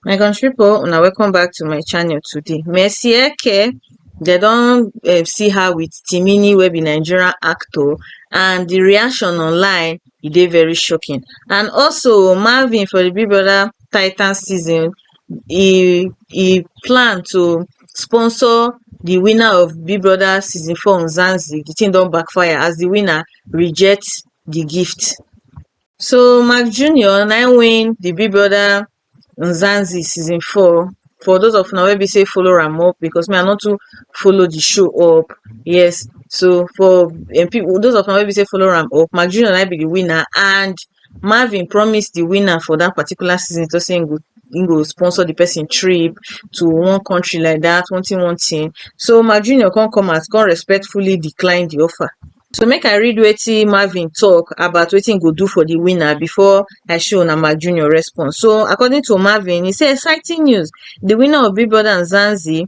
my country people una welcome back to my channel today mercy eke they don um, see her with timini wey be nigerian actor and the reaction online e dey very shocking and also marvin for the big brother titan season e e plan to sponsor di winner of big brother season four mzansi di tin don backfire as di winner reject di gift so mark junior na im win di big brother mzansi season four for those of una wey be say follow am up because me i no too follow di show up yes so for um pipu those of una wey be say follow am up mark junior na im be di winner and marvin promise di winner for dat particular season tok say im go sponsor di pesin trip to one kontri like dat one tin one tin so mark junior come come out come respectfully decline di offer so make I read wetin marvin tok about wetin im go do for di winner before I show una mark junior response so according to marvin e say exciting news di winner of big brother and zanzi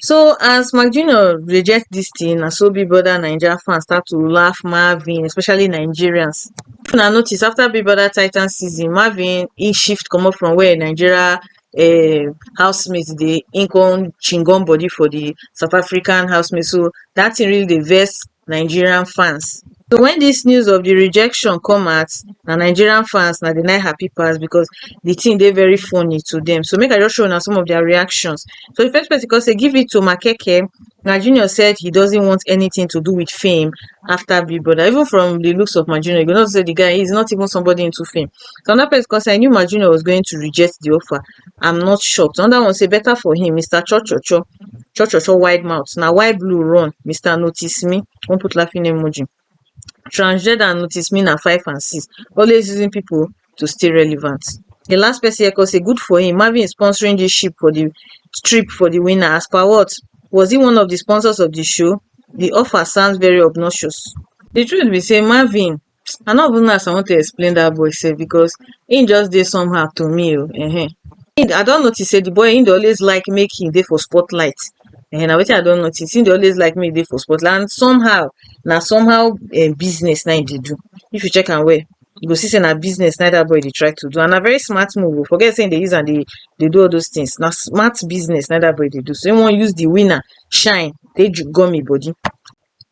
So as Mark Junior reject this thing, na so Big Brother Naija fans start to laugh Marvin, especially Nigerians. If una notice, after Big Brother Titan season, Marvin he shift comot from where Nigeria um housemates dey, he come chingon body for the South African housemates. So that thing really dey vex nigerian fans so wen dis news of di rejection come out na nigerian fans na dem na im happy pass becos di tin dey very funny to dem so make I just show una some of dia reactions so di first pesin kon say give it to makeke my junior said he doesn't want anytin to do with fame after big brother even from di looks of my junior you go know say di guy is not even somebody into fame so anoda pesin kon say I knew my junior was going to reject di offer am not shocked anoda one say beta for him mister cho cho cho cho cho cho wide mouth na why blue run mister notice me con put laughing emoji transgender and notice me na five and six always using pipo to stay relevant di last pesin here con say good for him marvin is sponsoring dis ship for di trip for di winner as per what was he one of di sponsors of di show di offer sounds very obnoxious di truth be say marvin I no even know as I want to explain that boy sef because he just dey somehow to me oh, ehen. I don notice say the boy he dey always like make him dey for spotlight. Ehen, na wetin I don notice. He dey always like make he dey for spotlight and somehow na somehow um, business na he dey do. If you check am well, you go see say na business na that boy dey try to do and na very smart move. Oh. Forget say he dey use am dey dey do all those things. Na smart business na that boy dey do. So he wan use the winner shine take gum him body.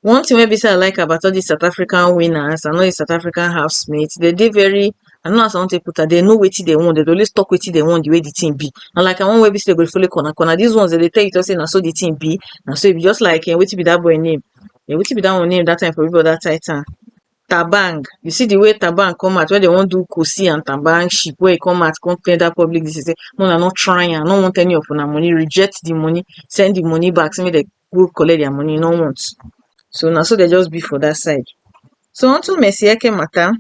One thing wey be sey I like about all dis South African winners and all dis South African house mate, dem dey very, I don't know as I wan take put am, dem know wetin dem want, dem dey always talk wetin dem want di way di thing be. Unlike our own wey be sey dem go dey follow corner corner, dis ones dem dey tell you talk sey na so di thing be, na so e be. Just like wetin be dat boy name, wetin be dat one name dat time for people dat side town, Thabang. You see di way Thabang come out wen dem wan do Cossy and Thabang ship, wey e come out come tell dat public dis thing sey make una nor try am, I nor want any of una money, reject di money, send di money back sey make dem go collect their money, e no want. So na so dem just be for that side. So unto Mercy Eke matter,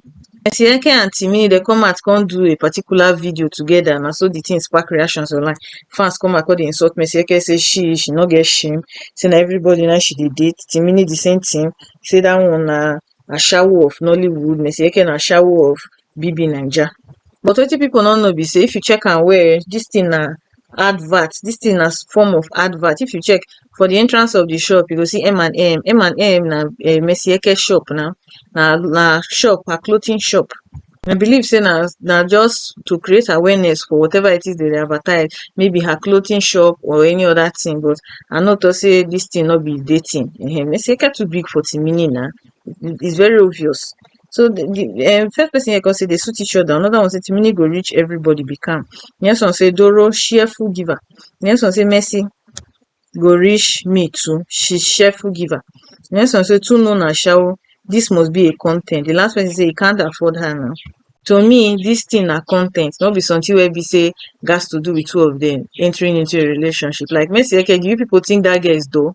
Mercy Eke and Timi dey come out come do a particular video together. Na so the thing spark reactions online. Fans come out come dey insult Mercy Eke say she she no get shame, say na everybody na she dey date. Timini the same thing, say that one na ashawo of Nollywood, Mercy Eke na ashawo of BBNaija. But wetin pipu no know be sey if you check am well um dis thing na advert, dis thing na form of advert. If you check for de entrance of de shop you go see M and M. M and M na um Mercy Eke shop na, na na shop, na clothing shop. I believe sey na na just to create awareness for whatever it is dem dey advertise. Maybe her clothing shop or any other thing but I know talk sey dis thing no be dating um. Mercy Eke too big for Timini na, e e is very obvious. So the, the um, first person here can say they suit each other. Another one say Timini go reach everybody be calm. The next one say Doro cheerful giver. The next one say Messi go reach me too. She's cheerful giver. The next one say two no na shower. This must be a content. The last person say he can't afford her now. To me, this thing na content, not be something where we say gas to do with two of them entering into a relationship. Like Messi, okay, do you people think that girl is though?